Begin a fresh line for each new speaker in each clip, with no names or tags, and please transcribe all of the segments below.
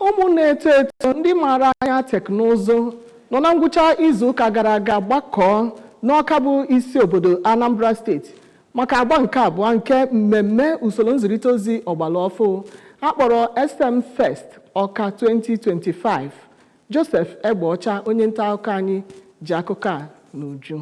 ụmụ na-eto eto ndị maara anya teknụzụ nọ na ngwụcha izu ụka gara aga gbakọọ n'ọka bụ isi obodo anambra steeti maka agba nke abụọ nke mmemme usoro nzirịta ozi ọgbara ọfụ akpọrọ sm fest ọka 2025 joseph egbeọcha onye nta akụkọ anyị ji akụkọ a n'uju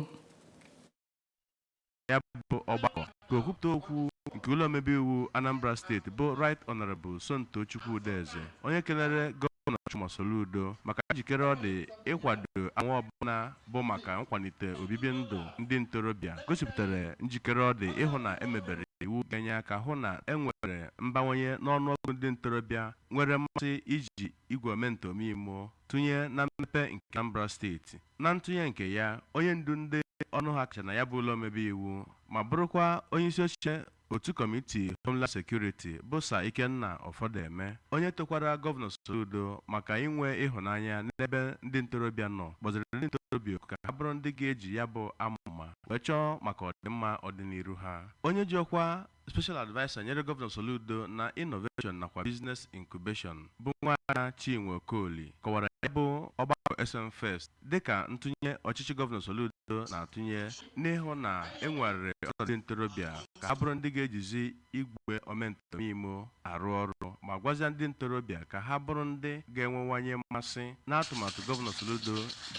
ya bụ ọgbakọ ka okwupụta okwu nke ụlọ omebe iwu Anambra steeti bụ Right Honorable Somtochukwu Udeze onye kelere gọvanọ Chukwuma Soludo maka njikere ọ dị ịkwado anwa ọbụla bụ maka nkwalite obibi ndụ ndị ntorobịa gosipụtara njikere ọ dị ịhụ na emebere iwu ga-enye aka hụ na enwere mbawanye n'ọnụọgụ ndị ntorobịa nwere mmasị iji igwe ome nta ome imo tụnye na mmepe nke Anambra steeti. Na ntụnye nke ya, onye ndu ndị ọnụ ha kacha na ya bụ ụlọ omebe iwu ma bụrụkwa onyeisi oche otu kọmiti Homeland Security bụ Sir Ikenna Ofodeme, onye tokwara Gọvanọ Soludo maka inwe ịhụnanya n'ebe ndị ntorobịa nọ, kpọziri ndị ntorobịa oku ka ha bụrụ ndị ga-eji ya bụ amụma wee chọọ maka ọdịmma ọdịniru ha. Onye ji ọkwa Special Adviser nyere Gọvanọ Soludo na Innovation nakwa Business Incubation bụ Nwaada Chinwe Okoli kọwara ya bụ ọgbakọ SM Fest dịka ntụnye ọchịchị Gọvanọ Soludo na-atụnye n'ịhụ na e nwegharịrị ọnọdụ ndị ntorobịa ka ha bụrụ ndị ga-ejizi igwe ome nta ome imo arụ ọrụ ma gwazia ndị ntorobịa ka ha bụrụ ndị ga-enwewanye mmasị n'atụmatụ Gọvanọ Soludo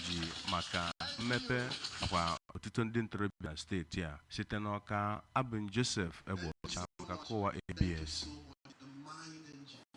ji maka mmepe nakwa otuto ndị ntorobịa na steeti a. Site n'Awka, abụ m Joseph Egbeọcha maka akụkọ ụwa ABS.